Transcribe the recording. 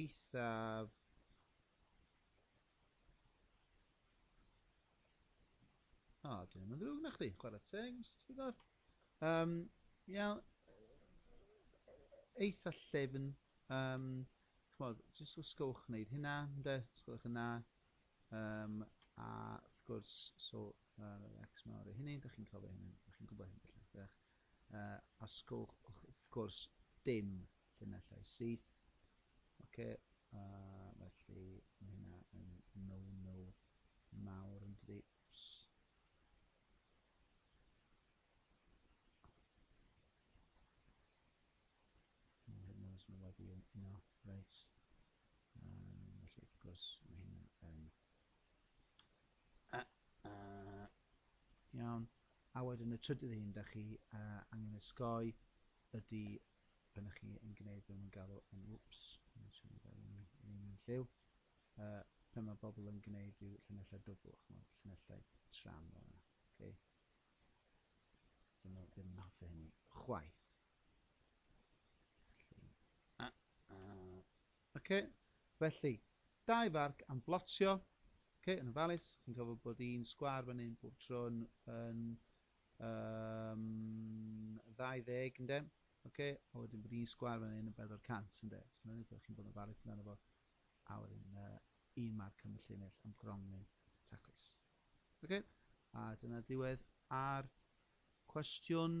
eithaf O, oh, dyn nhw'n ddrwg na chdi, chwarae teg, Mr Tudor. Um, iawn, eitha llefn, um, chmod, jyst os gywch wneud hynna, ynde, os gywch yna, um, a wrth gwrs, so, uh, X mawr o hynny, da chi'n cofio hynny, da chi'n gwybod hynny, felly, Os gwelwch wrth gwrs dim llinellau syth. Oce, felly mae hynna yn no-no mawr yn dydi. Mae wedi yn yno, reit. Felly wrth gwrs mae hynna yn... Iawn. A wedyn y trydydd un da chi uh, angen ysgoi ydy pan ydych chi yn gwneud beth mae'n galw yn wps, yn siŵr fel yn un yn lliw, uh, pan mae bobl yn gwneud rhyw llinellau dwbl, chymod, llinellau tram fel yna. Okay. Dyn nhw ddim yn hoffi hynny chwaith. Felly, uh, uh, Oce, felly, dau farc am blotio, oce, yn ofalus, chi'n cofio bod un sgwâr fan hyn bob tro yn, yn um, 20, ynde? Oce, a wedyn bod un sgwâr fan hyn yn 400, ynde? So, mae'n rhaid chi'n bod yn ofalus amdano fo. A wedyn, uh, un marc am y llinell am gronfyn taclus. Oce, a dyna diwedd ar cwestiwn